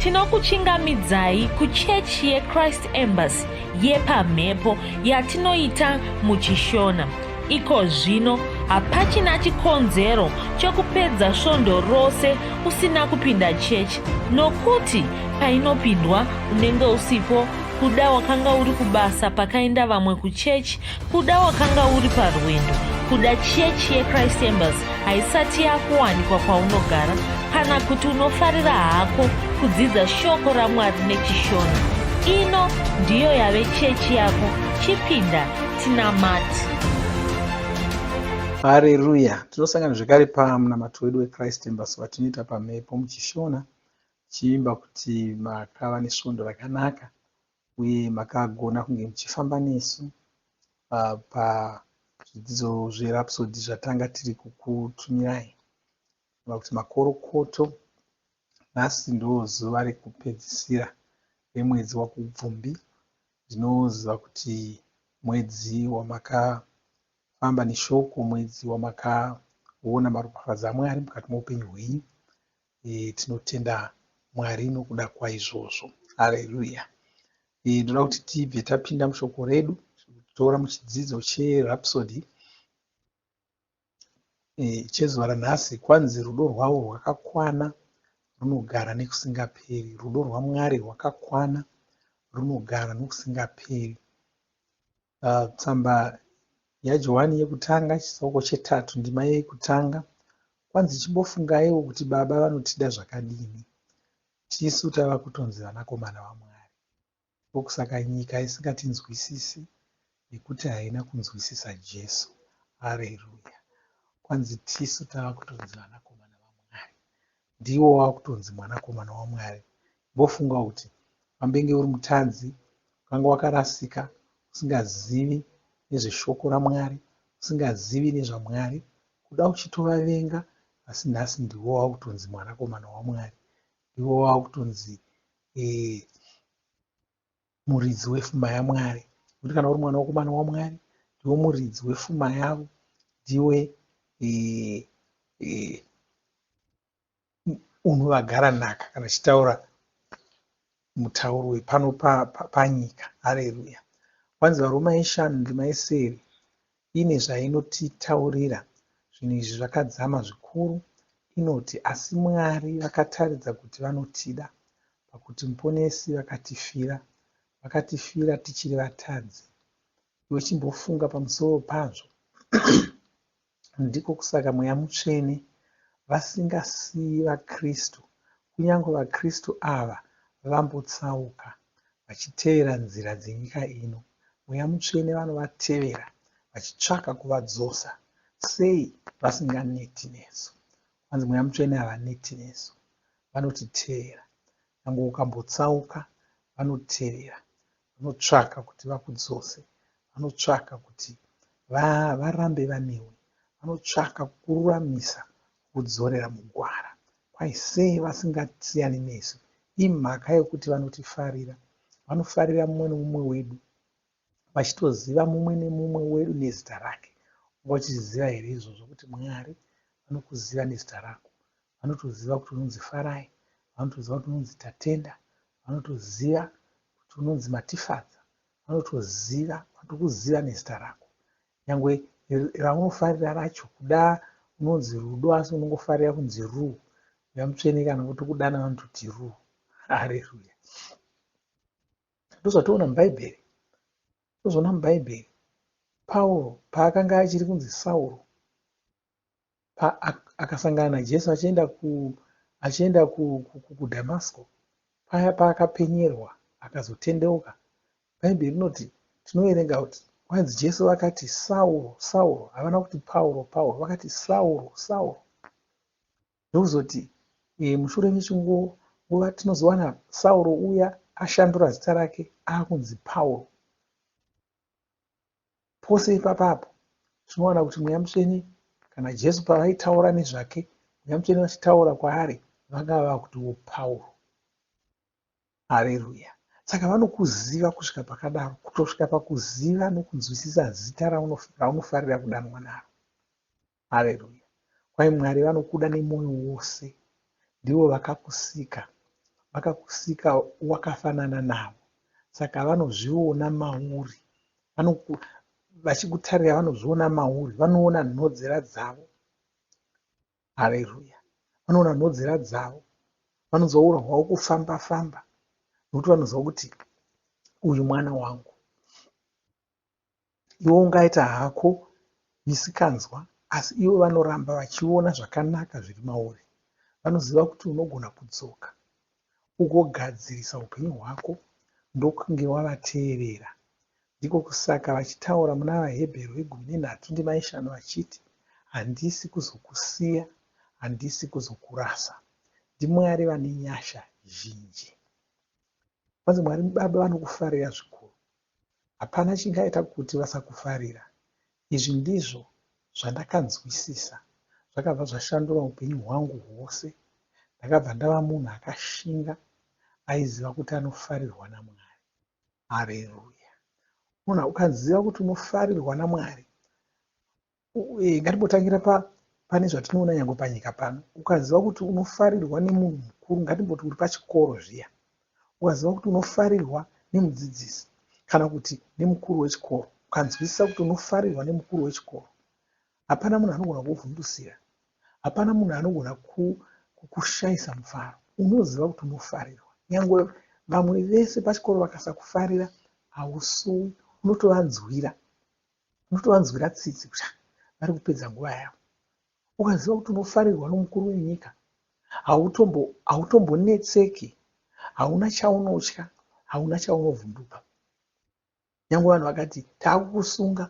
Tinokuchingamidzai kuchechi yeChrist Embassy yepamhepo yatinoita muChishona. Iko zvino hapachina chikonzero chokupedza svondo rose usina kupinda chechi nokuti painopindwa unenge usipo kuda wakanga uri kubasa pakaenda vamwe kuchechi Kuda wakanga uri parwendo kuda chechi yechrist embers haisati yakuwanikwa kwaunogara kana kuti unofarira hako kudzidza shoko ramwari nechishona ino ndiyo yave chechi yako chipinda tinamati hareruya tinosangana zvekare pamunamato wedu wechrist embers watinoita pamhepo muchishona chiimba kuti makava nesvondo rakanaka uye makagona kunge muchifamba nesu uh, pazvidzidzo zverapsodi zvatanga tiri kukutumirai va kuti makorokoto nhasi ndo zuva rekupedzisira remwedzi wakubvumbi ndinoziva kuti mwedzi wamakafamba neshoko mwedzi wamakaona maropafadzo amwari mukati meupenyu hwenyu Eeh tinotenda Mwari nokuda kwaizvozvo. Hallelujah. Eeh ndoda kuti tibve tapinda mushoko redu tora muchidzidzo cherhapsody eeh chezuva ranhasi kwanzi rudo rwavo rwakakwana runogara nekusingaperi. Rudo rwaMwari rwakakwana runogara nokusingaperi. Uh, tsamba yaJohani yekutanga chitsauko chetatu ndima yekutanga kwanzi chimbofungaiwo kuti baba vanotida zvakadini tisu tava kutonzi vanakomana vamwari ndokusaka nyika isingatinzwisisi nekuti haina kunzwisisa jesu areruya kwanzi tisu tava kutonzi vanakomana vamwari ndiwo wakutonzi mwanakomana waMwari. Imbofunga kuti wambenge uri mutadzi, wakanga wakarasika, usingazivi nezveshoko raMwari, usingazivi nezvaMwari, kuda uchitovavenga, asi nhasi ndiwo wakutonzi mwanakomana waMwari. Ndiwo wakutonzi eh, muridzi wefuma yaMwari. Nekuti kana uri mwana wekomana waMwari ndiwe muridzi wefuma yavo, ndiwe unovagara nhaka kana tichitaura mutauro wepano panyika. Hareruya! Kwanzi varwi maishanu ndimaisere Ine zvainotitaurira, Zvinhu izvi zvakadzama zvikuru, inoti, Asi Mwari vakataridza kuti vanotida pakuti Muponesi vakatifira. Vakatifira tichiri vatadzi. Iwe chimbofunga pamusoro pazvo. Ndiko kusaka Mweya Mutsvene vasingasiyi vaKristu Kunyange vaKristu ava vambotsauka vachitevera nzira dzenyika ino, Mweya Mutsvene vanovatevera vachitsvaka kuvadzosa. Sei vasinganeti nesu? Kwanzi Mweya Mutsvene havaneti nesu, vanotitevera. Nyangwe ukambotsauka, vanotevera. Vanotsvaka kuti vakudzose. Vanotsvaka kuti varambe vanewe. Vanotsvaka kukururamisa kukudzorera mugwara. Why say vasingasiyani nesu? Imhaka yekuti vanotifarira. Vanofarira mumwe nemumwe wedu. Vachitoziva mumwe nemumwe wedu nezita rake. Wanga uchiziva here izvozvo kuti Mwari vanokuziva nezita rako? vanotoziva kuti unonzi Farai, vanotoziva kuti unonzi Tatenda, vanotoziva kuti unonzi Matifadza, vanotoziva vanotokuziva nezita rako nyangwe raunofarira racho kuda unonzi Rudo asi unongofarira kunzi Ruu uya mutsvene kana votokudana vanototi Ruu hareruya ndozvatoona mubhaibheri ndozvaona mubhaibheri Pauro paakanga achiri kunzi Sauro paakasangana naJesu achienda ku achienda kuDhamasko paya paakapenyerwa akazotendeuka bhaibheri rinoti tinoverenga kuti kwanzi jesu vakati sauro sauro havana kuti pauro pauro vakati sauro sauro ndokuzoti e, mushure mechinguo nguva tinozowana sauro uya ashandura zita rake akunzi pauro pose ipapa apo tinowana kuti mweya mutsvene kana jesu pavaitaura nezvake mweya mutsvene vachitaura kwaari vanga vava kutiwo pauro hareruya saka vanokuziva kusvika pakadaro kutosvika pakuziva nokunzwisisa zita raunofarira kudanwa naro Hallelujah. Kwai Mwari vanokuda nemoyo wose. Ndivo vakakusika. Vakakusika wakafanana navo. Saka vanozviona mauri. Vanoku, vachikutarira vanozviona mauri. Vanoona nhodzera dzavo. Hallelujah. Vanoona nhodzera dzavo. Vanonzwa ura hwavo kufamba famba. Nokuti vanonzwa kuti uyu mwana wangu. Iwe ungaita hako misikanzwa asi ivo vanoramba vachiona zvakanaka zviri mauri. Vanoziva kuti unogona kudzoka ugogadzirisa upenyu hwako ndokunge wavateerera. Ndiko kusaka vachitaura muna VaHebheru vegumi nenhatu ndima yeshanu vachiti, Handisi kuzokusiya, handisi kuzokurasa. NdiMwari vane nyasha zhinji. Vanzi Mwari Baba vanokufarira zvikuru. Hapana chingaita kuti vasakufarira. Izvi ndizvo zvandakanzwisisa. Zvakabva zvashandura upenyu hwangu hwose. Ndakabva ndava munhu akashinga aiziva kuti anofarirwa naMwari. Hareruya! Munhu ukaziva kuti unofarirwa naMwari, Eh, ngatimbotangira pa pane zvatinoona nyangwe panyika pano ukaziva kuti unofarirwa nemunhu mukuru ngatimboti uri pachikoro zviya ukaziva kuti unofarirwa nemudzidzisi kana kuti nemukuru wechikoro ukanzwisisa kuti unofarirwa nemukuru wechikoro hapana munhu anogona kuvhundusira hapana munhu anogona kukushayisa mufaro unoziva kuti unofarirwa nyangwe vamwe vese pachikoro vakasakufarira hausuwi unotovanzwira Unotovanzwira tsitsi kuti ah, vari kupedza nguva yavo. Ukaziva kuti unofarirwa nomukuru wenyika, hautombonetseki, hauna chaunotya, hauna chaunovhunduka. Nyange vanhu vakati taakukusunga,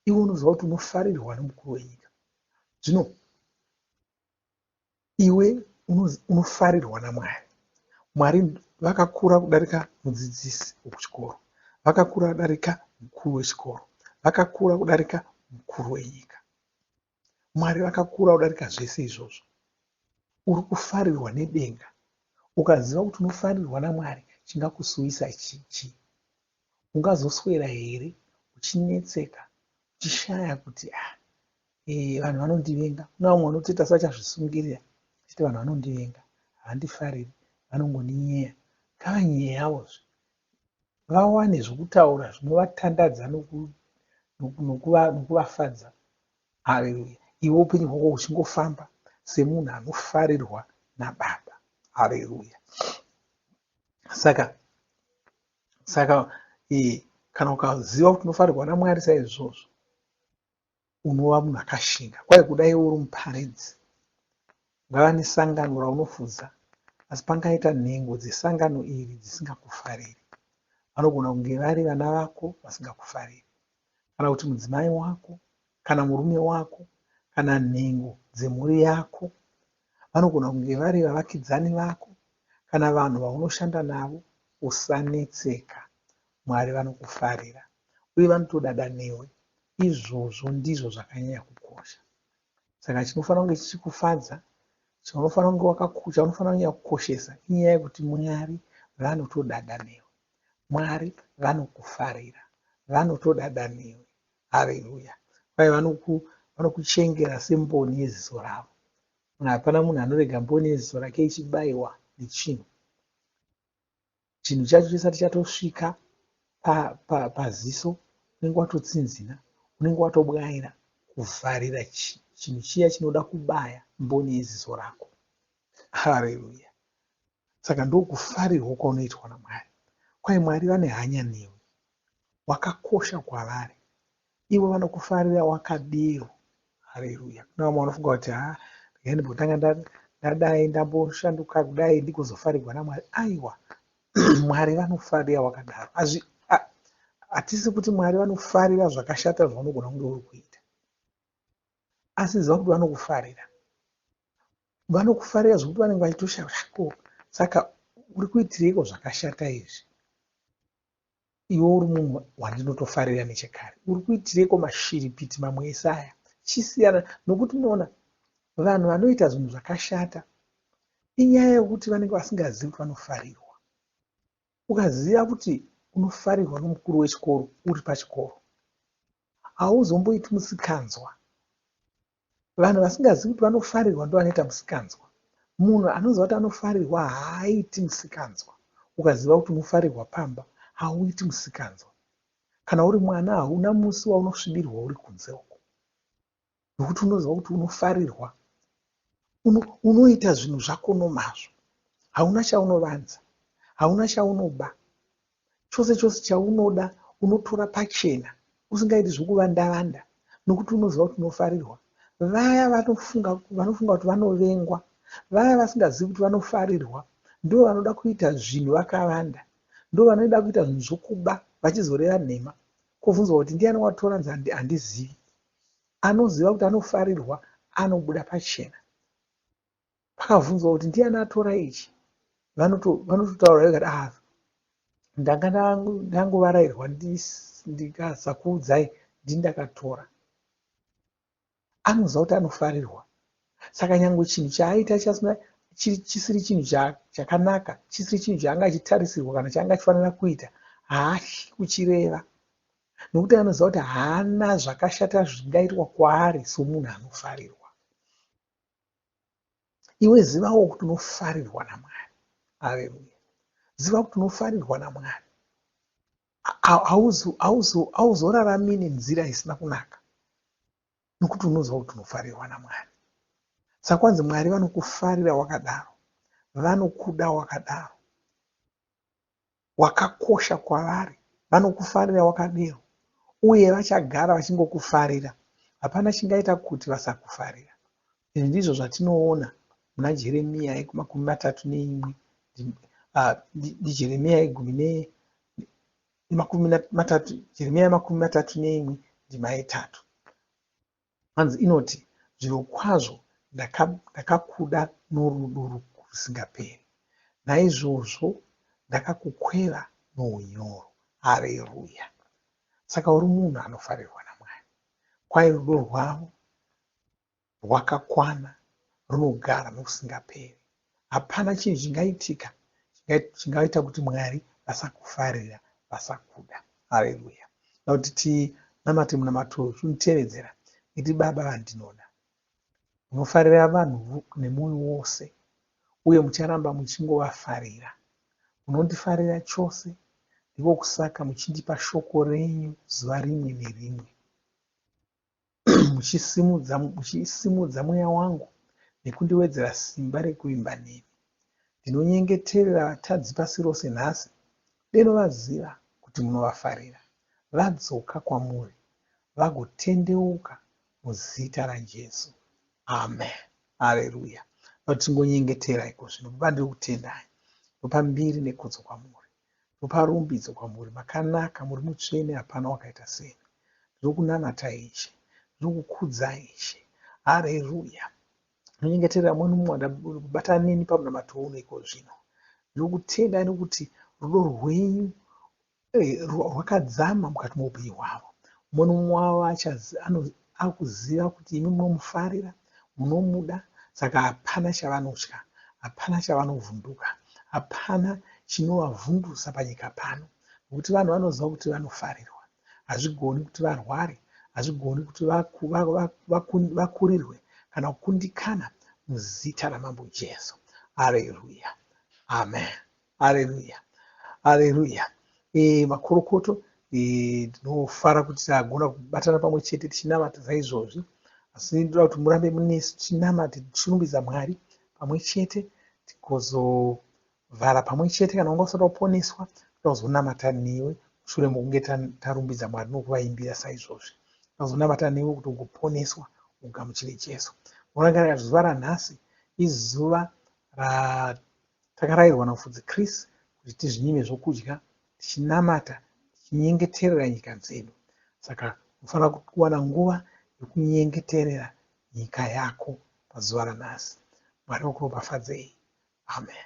iwe unoziva kuti unofarirwa nomukuru wenyika. Zvino Iwe unofarirwa naMwari. Mwari vakakura kudarika mudzidzisi wekuchikoro, vakakura kudarika mukuru wechikoro, vakakura kudarika mukuru wenyika. Mwari vakakura kudarika zvese izvozvo. Uri kufarirwa nedenga. Ukaziva kuti unofarirwa naMwari, chingakusuwisa chii? Ungazoswera here uchinetseka uchishaya kuti ah, eh, vanhu vanondivenga? Kuna vamwe vanoti ita sachazvisungirira achiti vanhu vanondivenga, havandifariri, vanongoninyeya. Ngavanyeyavo zve vawane zvokutaura zvinovatandadza nokuvafadza. Haleluya! Iwe upenyu hwako huchingofamba semunhu anofarirwa naBaba. Haleluya! Saka saka eh, kana ukaziva kuti unofarirwa namwari saizvozvo unova munhu akashinga kwaye kudai uri muparidzi ungava nesangano raunofuza asi pangaita nhengo dzesangano iri dzisingakufariri vanogona kunge vari vana vako vasingakufariri kana kuti mudzimai wako kana murume wako kana nhengo dzemhuri yako. Vanogona kunge vari vavakidzani vako kana vanhu vaunoshanda navo. Usanetseka. Mwari vanokufarira uye vanotodada newe. Izvozvo ndizvo zvakanyanya kukosha. Saka chinofanira kunge chichikufadza chaunofanira kunge wakakucha unofanira kunyanya kukoshesa inyaya yekuti mwari vanotodada newe mwari vanokufarira vanotodada newe hareruya kwaye vanoku vanokuchengera semboni yeziso ravo hapana munhu anorega mboni yeziso rake ichibayiwa nechinhu chinhu chacho chisati chatosvika paziso pa, pa unenge watotsinzina unenge watobwaira kuvharira chinhu chiya chinoda kubaya mboni yeziso rako hareruya saka ndokufarirwa kwaunoitwa namwari kwai mwari vane hanya newe wakakosha kwavari Ivo vanokufarira wakadii? Haleluya! Kune vamwe vanofunga kuti ha regai ndimbotanga ndadai ndamboshanduka kudai ndigozofarigwa naMwari. Aiwa, Mwari vanofarira wakadaro. Hatisi kuti Mwari vanofarira zvakashata zvaunogona kunge uri kuita, asi ziva kuti vanokufarira. Vanokufarira zvekuti vanenge vachitoshaya ko saka uri kuitireiko zvakashata izvi? Iwe uri munhu wandinotofarira nechekare. Uri kuitireiko mashiripiti mamwe ese aya? Chisiyana nokuti unoona vanhu vanoita zvinhu zvakashata inyaya yokuti vanenge vasingazivi kuti vanofarirwa. Ukaziva kuti unofarirwa nomukuru wechikoro uri pachikoro hauzomboiti musikanzwa Vanhu vasingazivi kuti vanofarirwa ndovanoita musikanzwa. Munhu anoziva kuti anofarirwa haaiti musikanzwa. Ukaziva kuti unofarirwa pamba hauiti musikanzwa. Kana uri mwana hauna musi waunosvibirwa uri kunze uko nokuti unoziva kuti unofarirwa. Uno, unoita zvinhu zvako nomazvo. Hauna chaunovanza, hauna chaunoba. chose chose chaunoda unotora pachena usingaiti zvekuvanda vanda nokuti unoziva kuti unofarirwa vaya vanofunga vanofunga kuti vanovengwa vaya vasingazivi kuti vanofarirwa ndivo vanoda kuita zvinhu vakavanda ndo vanoda kuita zvinhu zvokuba vachizoreva nhema kobvunzwa kuti ndiani watora nzandi handizivi anoziva kuti anofarirwa anobuda pachena akavhunzwa kuti ndiyani atora ichi vanototaura vekati a ah, ndanga ndangovarairwa ndikasakuudzai ndini ndakatora anoziva kuti anofarirwa saka nyange chinhu chaaita chisiri chinhu chakanaka chisiri chinhu chaanga achitarisirwa kana chaanga achifanira kuita haahyi kuchireva nokuti anoziva kuti haana zvakashata zvingaitwa kwaari somunhu anofarirwa iwe zivawo kuti unofarirwa namwari aleluya ziva kuti unofarirwa namwari hauzorarami nenzira isina kunaka nokuti unoziva kuti unofarirwa namwari saka kwanzi mwari vanokufarira wakadaro vanokuda wakadaro Wakakosha kwavari. Vanokufarira wakadero, uye vachagara vachingokufarira. Hapana chingaita kuti vasakufarira. Izvi ndizvo zvatinoona muna Jeremiya makumi matatu neimwe, Jeremiya yegumi ne makumi matatu, Jeremiya makumi matatu neimwe ndima yetatu. Hanzi inoti, Zvirokwazvo ndakakuda norudo rusingaperi, naizvozvo ndakakukweva nounyoro. Hareruya! Saka uri munhu anofarirwa naMwari. Kwaye rudo rwavo rwakakwana runogara nokusingaperi. Hapana chinhu chingaitika chingaita kuti Mwari vasakufarira, vasakuda. Haleluya. Nokuti tinamate munamato uyu, chimutevedzera iti Baba vandinoda. Munofarira vanhu nemwoyo wose uye mucharamba muchingovafarira. Munondifarira chose, ndiko kusaka muchindipa shoko renyu zuva rimwe nerimwe. muchisimudza mweya wangu nekundiwedzera simba rekuvimba nemi. Ndinonyengeterera vatadzi pasi rose nhasi, deno vaziva kuti munovafarira, vadzoka kwamuri, vagotendeuka muzita raJesu. Amen. Haleluya. Vatingonyengetera ikozvino. Baba, ndiri kutendai. Ndopa mbiri nekodzo kwamuri. Ndopa rumbidzo kwamuri, makanaka, muri mutsvene, hapana wakaita semi. Ndinokunanatai, Ishe, ndinokukudzai, Ishe. Hareruya! Ndinonyengeterera mumwe nomumwe wanda kubatana neni pamunamato uno iko zvino. Ndinokutendai nokuti rudo rwenyu eh, rwakadzama mukati moupenyu hwavo. Mumwe nomumwe wavo Akuziva kuti imi munomufarira, munomuda saka hapana chavanotya, hapana chavanovhunduka, hapana chinovavhundusa panyika pano nokuti vanhu vanoziva kuti vanofarirwa. Hazvigoni kuti varware, hazvigoni kuti vaku, va, va, vaku, vakurirwe kana kukundikana muzita raMambo Jesu. Areruya. Amen. haleluya haleluya e, eh, makorokoto eh, ndinofara e, kuti tagona kubatana pamwe chete tichinamata saizvozvi asi ndoda kuti murambe munesu tichinamate tichirumbidza mwari pamwe chete tikozovhara pamwe chete kana unga usati waponeswa toda kuzonamata newe mushure mokunge tarumbidza mwari nokuvaimbira saizvozvi toda kuzonamata newe kuti ugoponeswa ugamuchire jesu morangarira zuva ranhasi izuva ra Takarairwa naMufudzi Chris kuti tizvinyime zvokudya tichinamata tichinyengeterera nyika dzedu. Saka unofanira kuwana nguva yokunyengeterera nyika yako pazuva ranhasi. Mwari vakuropafadzei. Amen.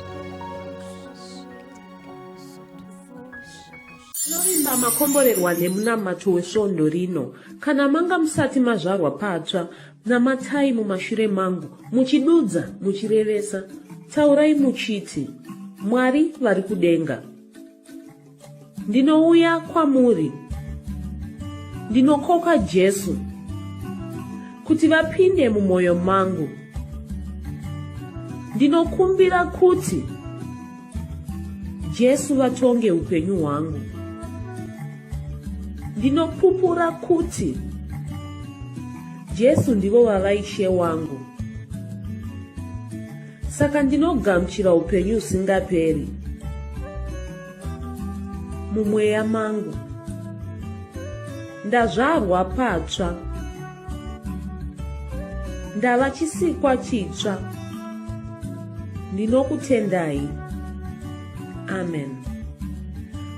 Tinovimba makomborerwa nemunamato wesvondo rino. Kana manga musati mazvarwa patsva, namatai mumashure mangu, muchidudza, muchirevesa. Taurai muchiti, Mwari vari kudenga. ndinouya kwamuri ndinokoka jesu kuti vapinde mumwoyo mangu ndinokumbira kuti jesu vatonge upenyu hwangu ndinopupura kuti jesu ndivo vava ishe wangu saka ndinogamuchira upenyu usingaperi mumweya mangu ndazvarwa patsva ndava chisikwa chitsva ndinokutendai amen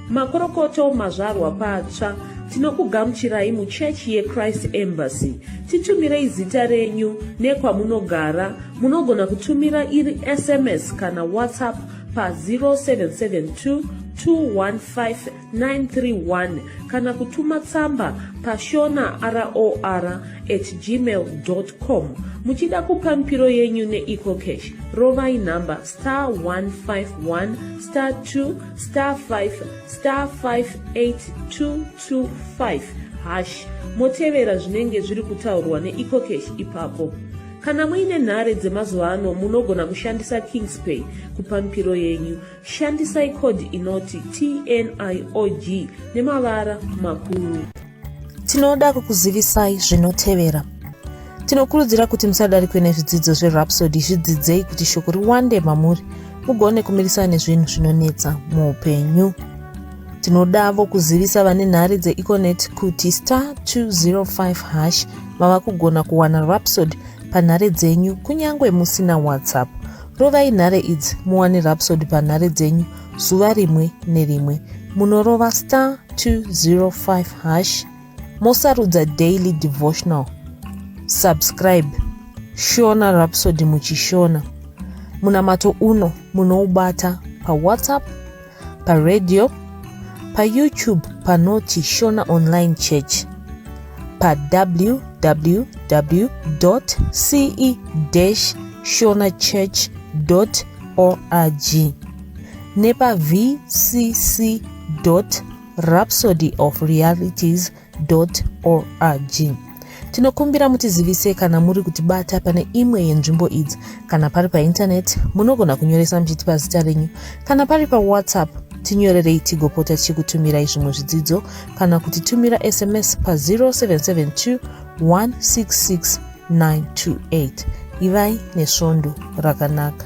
makorokoto mazvarwa patsva tinokugamuchirai muchechi yechrist embassy titumirei zita renyu nekwamunogara munogona kutumira iri sms kana whatsapp pa 0772 215 931 kana kutuma tsamba pashona ror at gmail com muchida kupa mipiro yenyu neecocash rovai nhamba star 151 star 2 star 5 star 58225 hash motevera zvinenge zviri kutaurwa neecocash ipapo kana muine nhare dzemazuva ano munogona kushandisa kingspay kupa mipiro yenyu Shandisai code inoti TNIOG nemavara makuru. Tinoda kukuzivisai zvinotevera. Tinokurudzira kuti musadarikwe nezvidzidzo zveRhapsody zvidzidzei kuti shoko riwande mamuri mugone kumirisana nezvinhu zvinonetsa muupenyu. Tinodavo kuzivisa vane nhare dzeEconet kuti star 205 hash mava kugona kuwana Rhapsody panhare dzenyu kunyange musina WhatsApp. Rovai nhare idzi muwane Rhapsody panhare dzenyu zuva rimwe nerimwe. Munorova star 205 hash mosarudza daily devotional. Subscribe Shona Rhapsody muchishona. Munamato uno munoubata paWhatsApp paradio, paYoutube panoti Shona Online Church, pawww.ce-shonachurch.org nepa vcc.rhapsodyofrealities.com org tinokumbira mutizivise kana muri kutibata pane imwe yenzvimbo idzi kana pari paintaneti munogona kunyoresa muchitipa zita renyu kana pari pawhatsapp tinyorerei tigopota tichikutumirai zvimwe zvidzidzo kana kuti tumira sms pa 0772 166 928 ivai nesvondo rakanaka